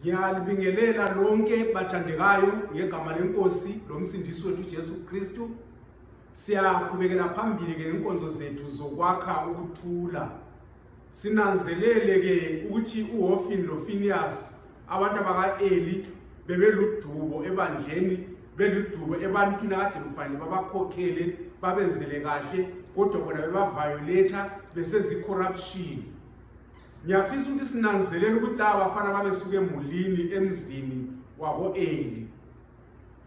Ngiyalibingelela lonke bathandekayo ngegama lenkosi lomsindisi wethu Jesu Kristu. Siyaqhubekela phambili ke ngenkonzo zethu zokwakha ukuthula sinanzelele ke ukuthi uHofini loFiniyasi abantu abaka-Eli bebeludubo ebandleni beludubo ebantwini akade kufanele babakhokhele babenzele kahle kodwa bona bebaviolator besezicorruption ngiyafisa ukuthi sinanzelele ukuthi laba bafana babesuke emulini emzini wako-eli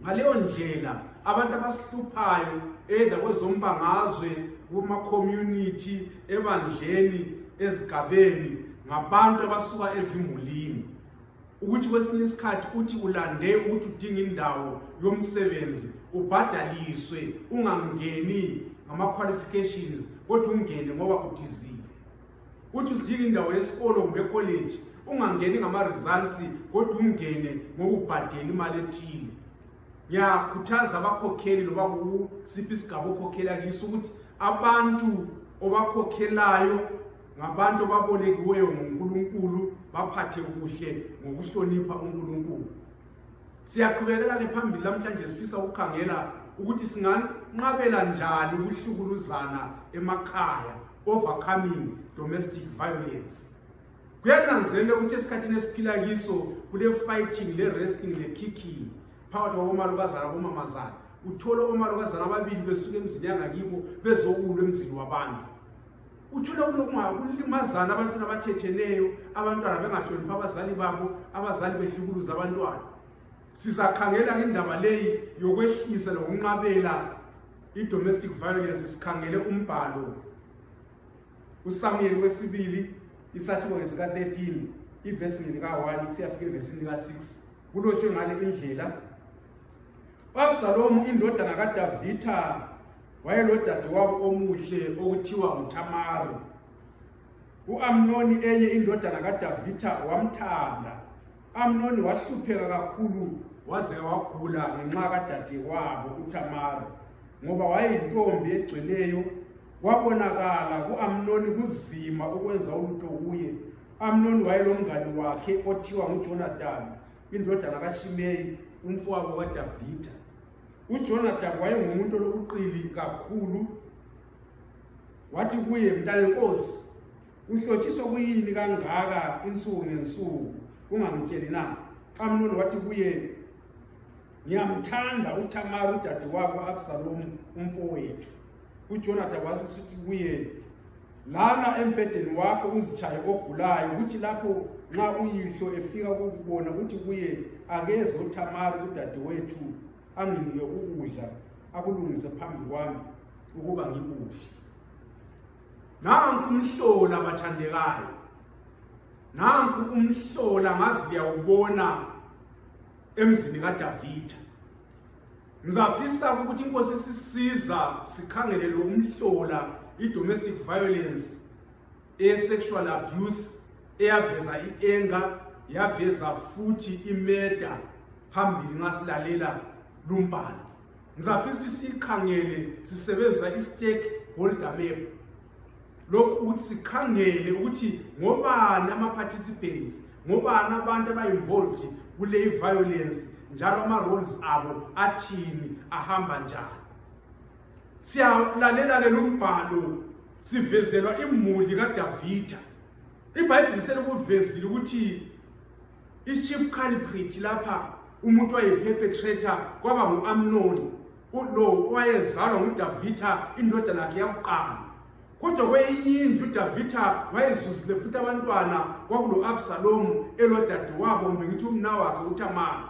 ngaleyo ndlela abantu abasihluphayo either kwezombangazwe kuma-community ebandleni ezigabeni ngabantu abasuka ezimulini ukuthi kwesinye isikhathi uthi ulande ukuthi udinga indawo yomsebenzi ubhadaliswe ungangeni ngama-qualifications kodwa ungene ngoba udizile ukuthi udinga indawo yesikolo kumbe ekholeji ungangeni ngama-results kodwa ungene ngokubhadela imali ethile ngiyakhuthaza abakhokheli loba kusiphi isigaba okhokhela kiso ukuthi abantu obakhokhelayo ngabantu obabolekiweyo ngunkulunkulu baphathe kuhle ngokuhlonipha unkulunkulu siyaqhubekela-ke phambili namhlanje sifisa ukukhangela ukuthi singanqabela njani ukuhlukuluzana emakhaya overcoming domestic violence kuyananzelela ukuthi esikhathini esiphila kiso kule-fighting le-resting le-kicking phakathi kwabomalokazana labomamazana uthole omalokazana ababili besuke emzini yangakibo bezokulwa emzini wabantu uthole kulimazana abantwana abathetheneyo abantwana bengahloniphi abazali babo abazali behlukuluza abantwana sizakhangela indaba leyi yokwehlisa lokunqabela i-domestic violence sikhangele umbhalo usamuel wesibili isahluko ngesika-13 ivesi ngelika-1 siyafika evesini lika-6 kulotshwe ngale indlela u-absalomu indodana kadavitha wayelodadewabo omuhle okuthiwa nguthamari u-amnoni enye indodana kadavitha wamthanda amnoni wahlupheka kakhulu waze wagula ngenxa kadadewabo utamara ngoba wayeyintombi egcweleyo kwabonakala ku-amnoni kuzima ukwenza ulutho kuye amnoni wayelomngane wakhe othiwa ngujonatani indodana kashimeyi umfowabo kadavida ujonatani wayengumuntu olokuqili kakhulu wathi kuye mntanenkosi uhlotshiswe kuyini kangaka insuku ngensuku ungangitsheli na amnoni wathi kuye ngiyamthanda uthamari udade wabo absalomu umfowethu ujonathan wasisithi kuye lala embhedeni wakho uzitshaye ogulayo kuthi lapho nxa uyihlo efika kukubona kuthi kuye akeze uthamari udade wethu anginike ukudla akulungise phambi kwami ukuba ngikudle nanku umhlola bathandekayo nanku umhlola ngazi liyawubona emzini kadavida ngizafisa ukuthi inkosi sisiza sikhangele lo umhlola i-domestic violence e-sexual abuse eyaveza i-enga yaveza futhi imeda phambili nxa silalela lumbhalo ngizafisa ukuthi siyikhangele sisebenzisa i-stake holder map lokhu ukuthi sikhangele ukuthi ngobani ama-participants ngobani abantu aba-involved kule i-violence njalo ama-roles abo athini ahamba njani siyalalela-ke lo mbhalo sivezelwa imuli kadavida ibhayibhili selikuvezile ukuthi ichief culprit lapha umuntu wayeperpetrator kwaba ngu-amnoni lo owayezalwa ngudavitha indodana yakhe yakuqala kodwa kweyinye indlu udavitha wayezuzile futhi abantwana kwakulo-absalomu elodadewabo kumbe ngithi umna wakhe utamara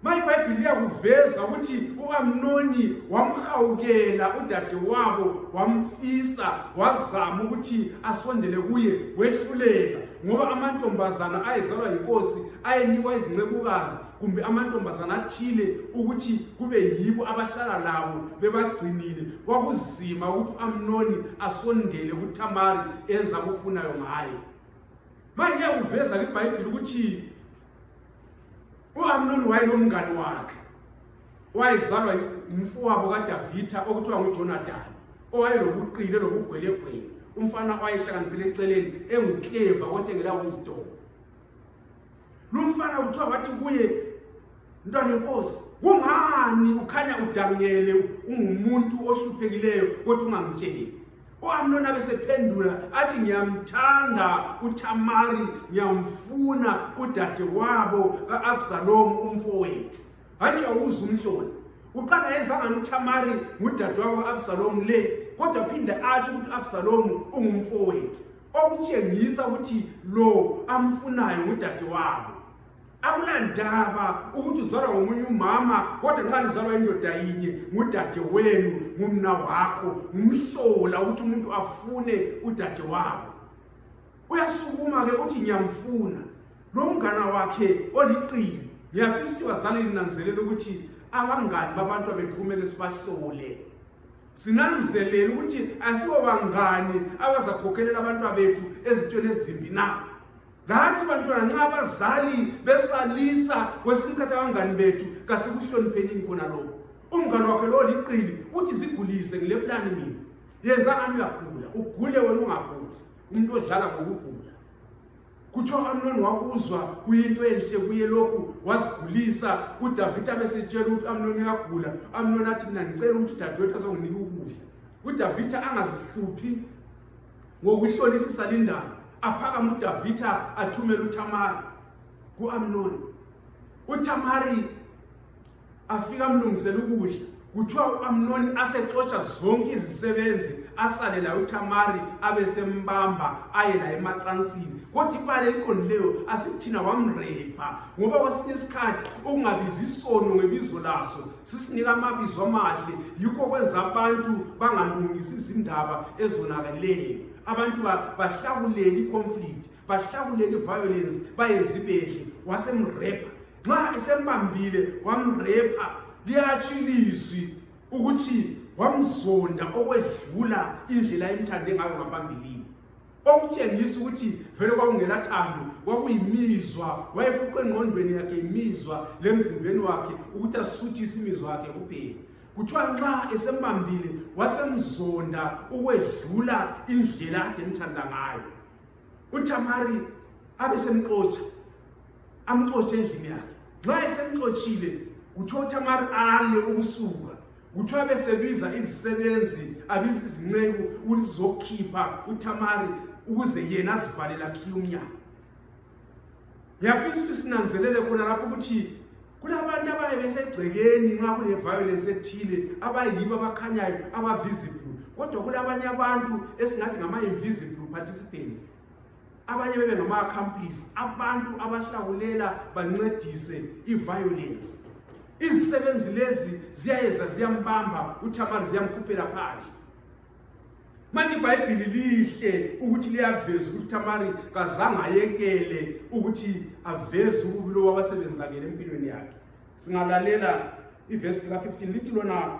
maye ibhayibhili liyakuveza ukuthi u-amnoni wamhawukela udadewabo wamfisa wazama ukuthi asondele kuye wehluleka ngoba amantombazana ayezalwa yinkosi ayenikwa izincekukazi kumbe amantombazana athile ukuthi kube yibo abahlala labo bebagcinile kwakuzima ukuthi u-amnoni asondele kuthamari enza akufunayo ngaye manje liyakuveza libhayibhili ukuthi uamnoni wayenomngane wakhe wayezalwa umfowabo kadavitha okuthiwa ngujonatani owayelobuqile lobugwelegwele umfana wayehlakaniphile eceleni engukleva kodwa engelawezidoko lo mfana kuthiwa wathi kuye mntwana enkosi kungani ukhanya udangele ungumuntu ohluphekileyo kodwa ungangitsheli uamnoni abesephendula athi ngiyamthanda uthamari ngiyamfuna udade wabo ka-absalomu umfowethu hatshi awuze umhloni uqala yenzangani uthamari ngudade wabo ka-absalomu le kodwa phinde atsho ukuthi u-absalomu ungumfowethu okutshengisa ukuthi lo amfunayo ngudade wabo akunandaba ukuthi uzalwa ngomunye umama kodwa nxa lizalwa indoda yinye ngudade wenu ngumna wakho ngumhlola ukuthi umuntu afune udade wabo uyasukuma-ke uthi ngiyamfuna lo mngana wakhe oliqili ngiyafisa ukuthi bazali linanzelela ukuthi abangani babantu abethu kumele sibahlole sinanzelela ukuthi asibo bangani abazakhokhelela abantwa bethu ezintweni ezimbi na lathi bantwana nxa abazali besalisa kwesinye isikhathi abangani bethu kasikuhloniphenini khona lokho umngane wakhe lowo liqili uthi zigulise ngilebulani mina yenza ngani uyagula ugule wena ungaguli umuntu odlala ngokugula kuthiwa amnoni wakuzwa kuyinto enhle kuye lokhu wazigulisa udavida besetshela ukuthi amnoni uyagula amnoni athi mina ngicela ukuthi udadewethu azonginika ukudla udavida angazihluphi Ngokuhlolisisa lindaba, aphakama uDavitha athumela uThamari kuAmnoni. UThamari afika amlungisela ukudla. Kuthiwa uAmnoni asexotsha zonke izisebenzi asale laye uThamari abesembamba aye laye emacansini. Kodwa ibala eliqondileyo asikuthina wamrepa ngoba kwesinye isikhathi ukungabizi isono ngebizo laso sisinika amabizo amahle yikho kwenza abantu bangalungisi izindaba ezonakeleyo abantu bahlakuleli i-conflict bahlakuleli i-violence bayenza ibehle wasemrepha nxa esembambile wamrepha liyatsho ilizwi ukuthi wamzonda okwedlula indlela ayimthande ngayo ngaphambilini kwakutshengisa ukuthi vele kwakungelathando kwakuyimizwa wayefuqe engqondweni yakhe imizwa lemzimbeni wakhe ukuthi asuthise imizwa yakhe kuphela kuthiwa nxa esembambile wasemzonda ukwedlula indlela ade emthanda ngayo uthamari abesemxotsha amxotshe endlini yakhe nxa esemxotshile kuthiwa uthamari ale ukusuka kuthiwa besebiza izisebenzi abiza izinceku ukuthi zizokhipha uthamari ukuze yena azivalele akhiye umnyango ngiyafisa ukuthi sinanzelele khona lapho ukuthi kulabantu abaye besegcekeni nxa kule-violence ethile abayibo abakhanyayo abavisible kodwa kulabanye abantu esingathi ngama-invisible participants abanye bebe ngama-accomplice abantu abahlakulela bancedise i-violence izisebenzi lezi ziyayeza ziyambamba uthamari ziyamkhuphela phandle manje ibhayibhili lihle ukuthi liyaveza ukuthi uthamari kazange ayekele ukuthi aveze ububi lowo abasebenzakele empilweni yakhe singalalela ivesi lika-15 lithi lona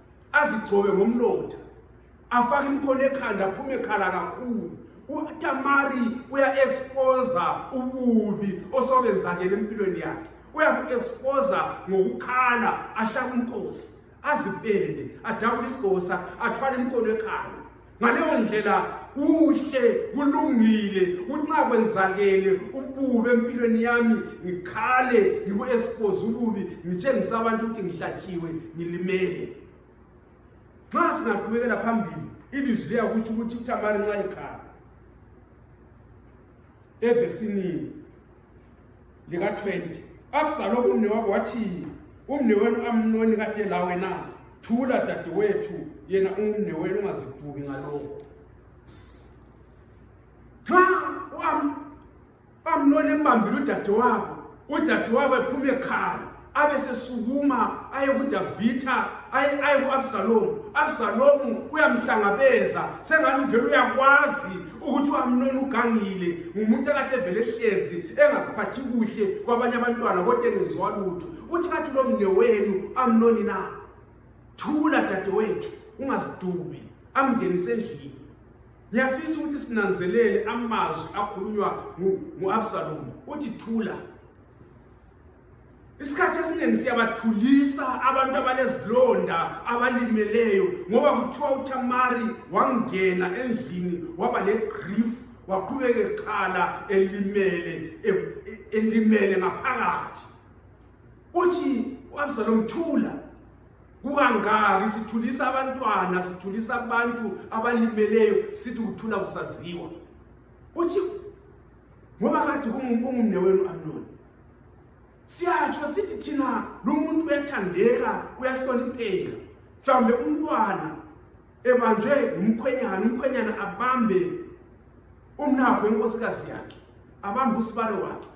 azigcobe ngomlotha afake imkhono ekhanda aphume khala kakhulu utamari uya-exposa ububi osokenzakele empilweni yakhe uyaku-exposa ngokukhala ahlaka umkosi azipende adabule isigqosa athwale imkhono ekhanda ngaleyo ndlela kuhle kulungile unxa kwenzakele ubube empilweni yami ngikhale ngiku-expose ububi ngitshengisa abantu ukuthi ngihlatshiwe ngilimele nxa singaqhubekela phambili ilizwi liyakutsho ukuthi utamari nxa ikhala evesini lika-20 absalomu umnewabo wathi umnewenu amnoni kade la wena thula dadewethu yena umnewenu ungazidubi ngalokho nxa uamnoni embambile udadewabo udadewabo ephuma ekhala abesesukuma aye kudavitha aye ku-absalomu absalomu uyamhlangabeza sengani uvele uyakwazi ukuthi uamnoni ugangile ngumuntu akade evele ehlezi engaziphathi kuhle kwabanye abantwana kodwa engenziwa lutho uthi kathi lo mne wenu amnoni na thula dadewethu ungazidubi amngenise endlini ngiyafisa ukuthi sinanzelele amazwi akhulunywa ngu-absalomu uthi thula isikhathi esiningi siyabathulisa abantu abalezilonda abalimeleyo ngoba kuthiwa uthamari wangena endlini waba legrief waqhubeka ekhala elimele e, e, elimele ngaphakathi uthi u-absalomu thula kukangaki sithulisa abantwana sithulisa abantu abalimeleyo sithi kuthula kusaziwa uthi ngoba kathi kungumne wenu amnoni siyatsho sithi thina lo muntu uyathandeka uyahlonipheka mhlawumbe umntwana ebanjwe ngumkhwenyana umkhwenyana abambe umnakho inkosikazi yakhe abambe usibare wakhe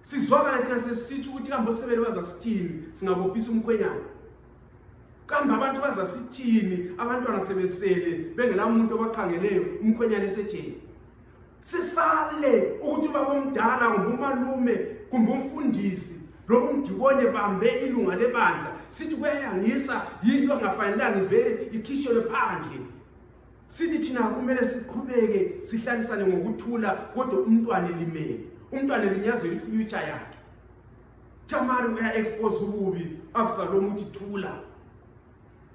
sizwakala thina sesitsho ukuthi kambe osebele bazasithini singabophisa umkhwenyana kambe abantu bazasithini abantwana sebesele bengelamuntu obakhangeleyo umkhwenyana esejeni sisale ukuthi ubabomdala kumbe umalume kumbe umfundisi loba umdibone bambe ilunga lebandla sithi kuyayangisa yinto angafanelanga ivele ikhishelwe phandle sithi thina kumele siqhubeke sihlalisane ngokuthula kodwa umntwana elimele umntwana elinyazela ifuture yakhe tamari uya-expose ububi absalomu uthi thula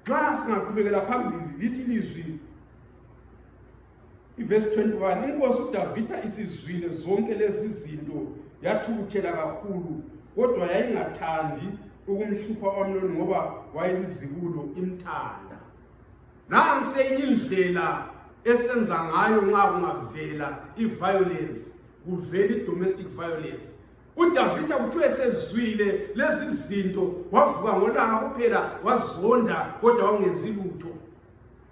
nxa singaqhubekela phambili lithi lizwi ivesi 21 inkosi udavida isizwile zonke lezi zinto yathukuthela kakhulu kodwa yayingathandi ukumhlupha omnoni ngoba wayelizibulo imthanda nansi enye indlela esenza ngayo nxa kungavela i-violence kuvela i-domestic violence udavida kuthiwa esezwile lezi zinto wavuka ngolanga kuphela wazonda kodwa wangenzi lutho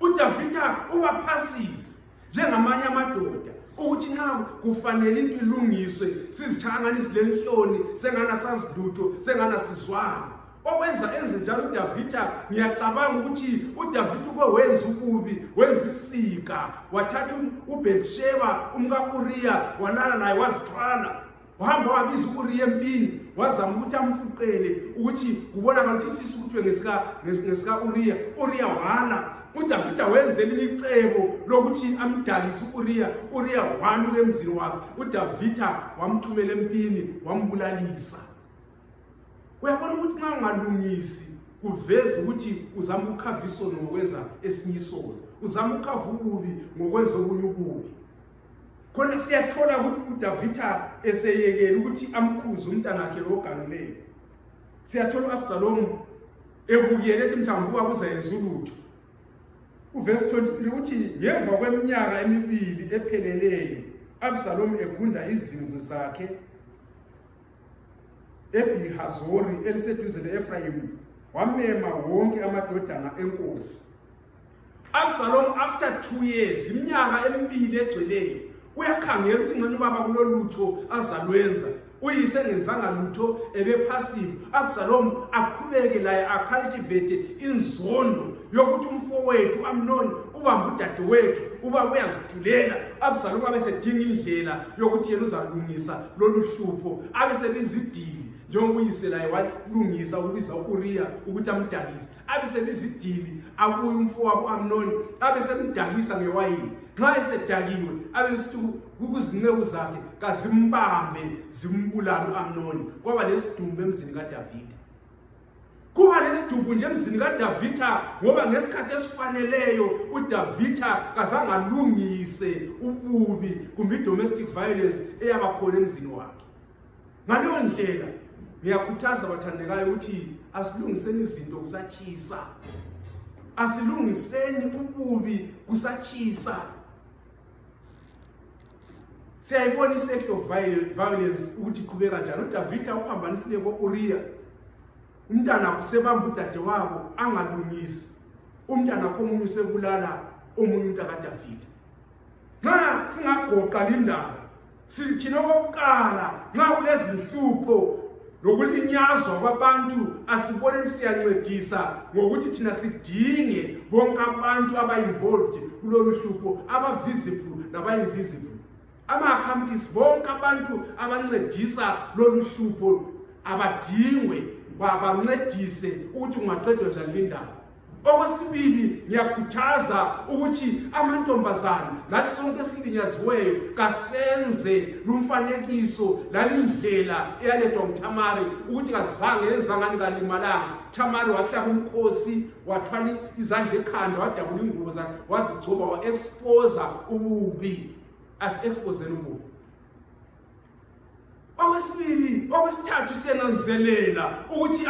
udavida uba passive njengamanye amadoda ukuthi nxa kufanele into ilungiswe sizithangani silenhloni sengana sazidutho sengana sizwana okwenza enze njalo udavida ngiyacabanga ukuthi udavida uke wenza ukubi wenza isika wathatha ubhetsheba umkauriya walala naye wazithwala wahamba wabiza uuriya empini wazama ukuthi amfuqele ukuthi kubonakala ukuthi isisi kuthiwe ngesika-uriya uriya wana udavida wenze elinye icebo lokuthi amdalise u-uriya uriya wana uke emzini wakhe udavida wamthumela empini wambulalisa uyabona ukuthi nxa ungalungisi kuveza ukuthi uzama ukukhava isono ngokwenza esinye isono uzama ukukhava ububi ngokwenza obunye ububi khona siyathola ukuthi udavitha eseyekele ukuthi amkhuze umntanakhe lo ogalileyo siyathola u-absalomu ebukele ethi mhlawumbi uba kuzayenza ulutho uvesi 23 uthi ngemva kweminyaka emibili epheleleyo absalomu egunda izimvu zakhe ebihazori eliseduze le-efrayimu wamema wonke amadodana enkosi Absalom after 2 years iminyaka emibili egcweleyo uyakhangela ukuthi ngcono ubaba kulolutho azalwenza uyise engenzanga lutho ebephasive absalom aqhubeke laye acultivate inzondo yokuthi umfowethu amnoni ubamba udadewethu uba uyazithulela absalom abesedinga indlela yokuthi yena uzalungisa lolu hlupho abesebizidili njengokuyise laye walungisa ukubiza u-uriya ukuthi amdakise abe selizidili abuye umfowabo amnoni abe semdakisa ngewayini nxa esedakiwe abe sithi kuzinceku zakhe kazimbambe zimbulale u-amnoni kwaba lesidumbu emzini kadavida kuba lesidumbu nje emzini kadavida ngoba ngesikhathi esifaneleyo udavida kazangalungise ububi kumbe i-domestic violence eyabakhona emzini wakhe ngaleyo ndlela ngiyakhuthaza bathandekayo ukuthi asilungiseni izinto kusatshisa asilungiseni ububi kusatshisa siyayibona i-sexual violence ukuthi iqhubeka njani udavida uphambanisile ko-uriya umntana usebamba udadewabo angalungisi umntana komunye usebulala omunye umntakadavida nxa singagoqa lindaba sithini okokuqala nxa kulezinhlupho lokulinyazwa kwabantu asiboneni siyancedisa ngokuthi thina sidinge bonke abantu aba-involved kulolu hlupho aba-visible laba-invisible ama-accomplice bonke abantu abancedisa lolu hlupho abadingwe babancedise ukuthi kungaqedwa njani lindaba okwesibili ngiyakhuthaza ukuthi amantombazane lathi sonke esilinyaziweyo kasenze lumfanekiso lalindlela eyalethwa nguthamari ukuthi kazange yenzangani kalimalanga thamari wahlaba umkhosi wathwala izandla ekhanda wadabula ingubo zakhe wazigcoba wa-exposa ububi asi-expozeni ububi okwesibili okwesithathu siyananzelela ukuthi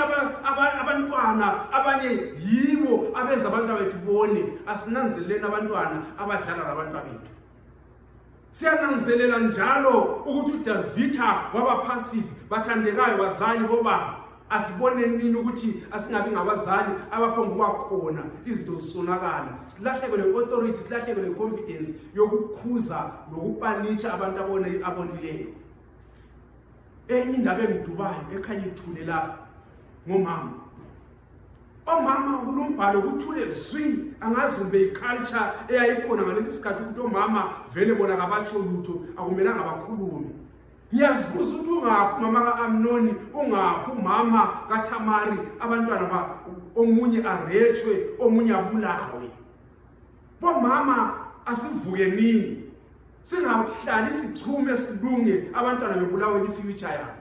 abantwana abanye yibo abenza abantwana bethu bone asinanzeleleni abantwana abadlala labantwana bethu siyananzelela njalo ukuthi udasvita waba passive bathandekayo bazali bobaba asibone nini ukuthi asingabi ngabazali abaphonguba khona izinto zisonakala silahleke le-authority silahleke le-confidence yokukhuza nokupanitsha abantu abone abonileyo enye indaba engidubayo ekhanye ithule lapha ngomama omama kulo mbhalo kuthule zwi angazi kumbe yiculture eyayikhona ngalesi sikhathi ukuthi omama vele bona kabatsho lutho akumelanga bakhulume ngiyazibuza ukuthi ungaphi umama ka-amnoni ungaphi umama kathamari abantwana ba omunye arethwe omunye abulawe bomama asivuke nini singahlali sichume silunge abantwana bebulawe lifuture yabo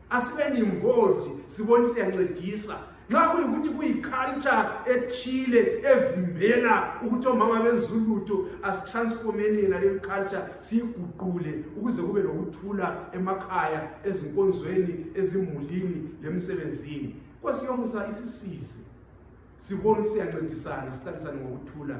asibe ni-involved sibone siyancedisa nxa kuyikuthi kuyiculture ethile evimbela ukuthi omama benza ulutho asitransformeni yena leyo culture siyiguqule ukuze kube lokuthula emakhaya ezinkonzweni ezimulini lemsebenzini nkosi yomusa isisize sibone ukuthi siyancedisana sithanisane ngokuthula